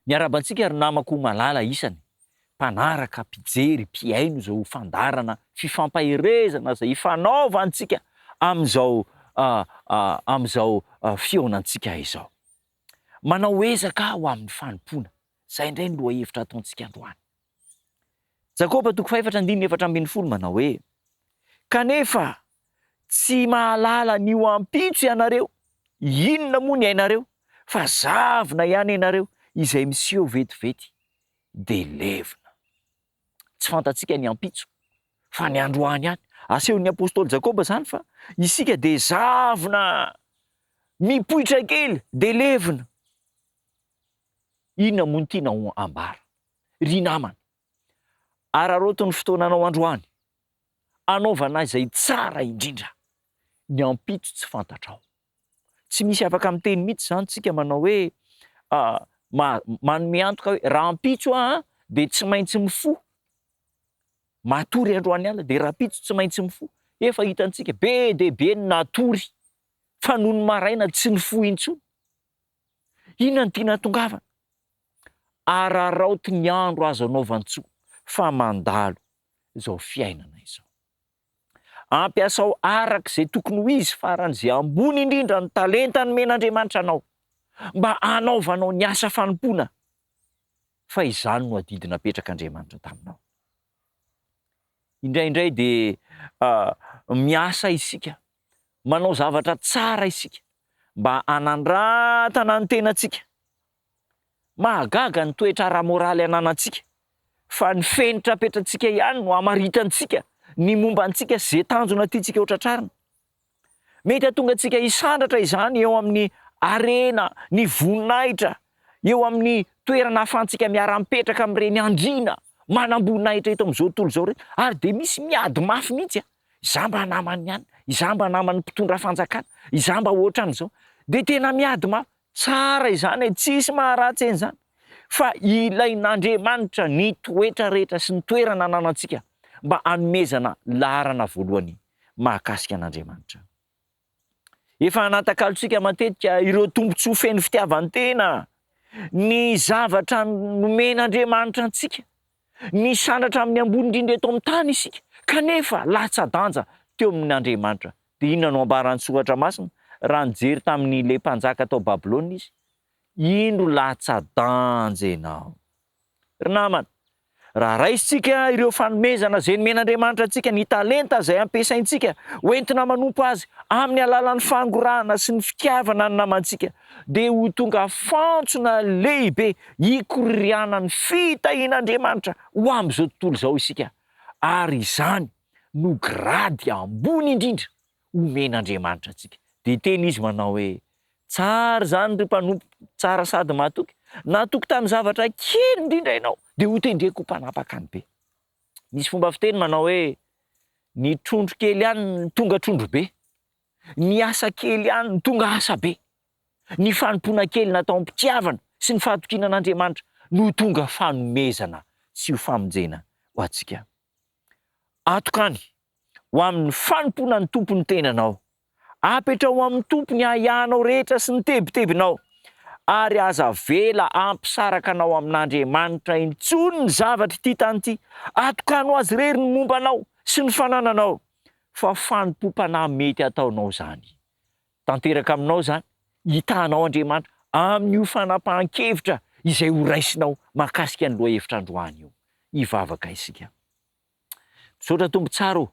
Miarahaba antsika ry namako malala isany. mpanaraka, mpijery, mpihaino izao fandaharana fifampaherezana izay ifanaovantsika amin'izao amin'izao fihaonantsika izao. Manao ezaka aho amin'ny fanompoana. Izay indray ny lohahevitra ataontsika androany. Jakoba toko fahefatra andininy efatra ambin'ny folo manao hoe, Kanefa tsy mahalala ny ho ampitso ianareo, inona moa ny ainareo, fa zavona ihany ianareo izay miseho vetivety, dia levona. Tsy fantatsika ny ampitso, fa ny androany ihany. Asehon'ny apostoly Jakoba izany fa isika dia zavona mipoitra kely dia levona. Inona moa no tianao ambara? Ry namana, araraoty ny fotoananao androany, anaovana izay tsara indrindra. Ny ampitso tsy fantatrao. Tsy misy afaka miteny mihitsy izany tsika manao hoe manome antoka hoe rahampitso aho dia tsy maintsy mifoha. Matory androany alina dia rahampitso tsy maintsy mifoha. Efa hitantsika be dia be ny natory fa nony maraina tsy nifoha intsony. Inona no tiana hatongavana? Araraoty ny andro azo anaovan-tsoa fa mandalo izao fiainana izao. Ampiasao araka izay tokony ho izy faran'izay ambony indrindra ny talenta nomen'Andriamanitra anao, mba hanaovanao ny asa fanompoana, fa izany no adidy napetrak'Andriamanitra taminao. Indraindray dia miasa isika, manao zavatra tsara isika, mba hanandratana ny tenantsika, Mahagaga ny toetra ara-moraly ananantsika, fa ny fenitra apetratsika ihany no amaritantsika ny momba antsika sy ze tanjona tiantsika hotratrarina. Mety hatonga antsika hisandratra izany eo amin'ny harena, ny voninahitra, eo amin'ny toerana ahafahantsika miara-mipetraka amin'ireny andriana manam-boninahitra eto amin'izao tontolo izao ireny. Ary dia misy miady mafy mihitsy an! Izaho mba naman'ny anona, izaho mba naman'ny mpitondra fanjakana, izaho mba ohatran'izao. Dia tena miady mafy. Tsara izany e, tsisy maharatsy eny izany fa ilain'Andriamanitra ny toetra rehetra sy ny toerana ananantsika mba hanomezana laharana voalohany mahakasika an'Andriamanitra. Efa anatakalontsika matetika ireo tombontsoa feno fitiavan-tena ny zavatra nomen'Andriamanitra antsika. Misandratra amin'ny ambony indrindra eto amin'ny tany isika, kanefa latsa-danja teo amin' Andriamanitra. Dia inona no ambaran'ny Soratra Masina? Raha nijery tamin'ilay mpanjaka tao Babylona izy, Indro latsa-danja ianao. Ry namana, raha raisintsika ireo fanomezana izay nomen'Andriamanitra antsika, ny talenta izay ampiasaintsika hoentina manompo Azy amin'ny alalan'ny fangorahana sy ny fitiavana ny namantsika, dia ho tonga fantsona lehibe hikorianan'ny fitahian'Andriamanitra ho amin'izao tontolo izao isika, ary izany no grady ambony indrindra omen'Andriamanitra antsika. Dia teny izy manao hoe, Tsara izany ry mpanompo tsara sady mahatoky, natoky tamin'ny zavatra kely indrindra ianao, dia hotendreko ho mpanapaka ny be. Misy fomba fiteny manao hoe, Ny trondro kely ihany tonga trondro be. Ny asa kely ihany no tonga asa be. Ny fanompoana kely natao am-pitiavana sy ny fahatokiana an'Andriamanitra no tonga fanomezana sy ho famonjena ho antsika. Atokany ho amin'ny fanompoana ny Tompo ny tenanao. Apetraho amin'ny Tompo ny ahiahinao rehetra sy ny tebitebinao, ary aza avela hampisaraka anao amin'Andriamanitra intsony ny zavatr'ity tany ity. Atokano Azy irery ny momba anao sy ny fanananao. fa fanompoam-panahy mety ataonao izany. Tanteraka aminao izany, hitanao Andriamanitra amin'io fanapahan-kevitra izay horaisinao mahakasika ny lohahevitra androany io. Hivavaka isika. Misaotra Tompo tsara ô!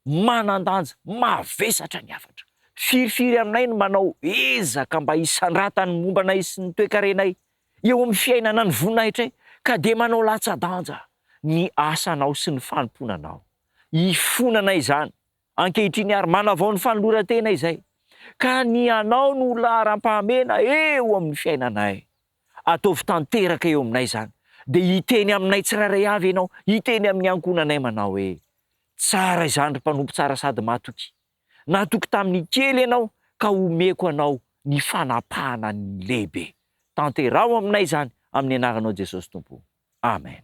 Manan-danja, mavesatra ny hafatra. Firifiry aminay ny manao ezaka mba hisandratan'ny momba anay sy ny toekarenay eo amin'ny fiainana ny voninahitray, ka dia manao latsa-danja ny asanao sy ny fanompoana anao. hifonana izany ankehitriny ary manavao ny fanoloran-tena izay ka ny anao no ho laharam-pahamena eo amin'ny fiainanay. Ataovy tanteraka eo aminay izany dia hiteny aminay tsirairay avy ianao, hiteny amin'ny ankohonanay manao hoe, Tsara izany ry mpanompo tsara sady matoky. Natoky tamin'ny kely ianao ka omeko anao ny fanapahana ny lehibe. Tanteraho aminay izany amin'ny anaranao Jesosy Tompo. Amen.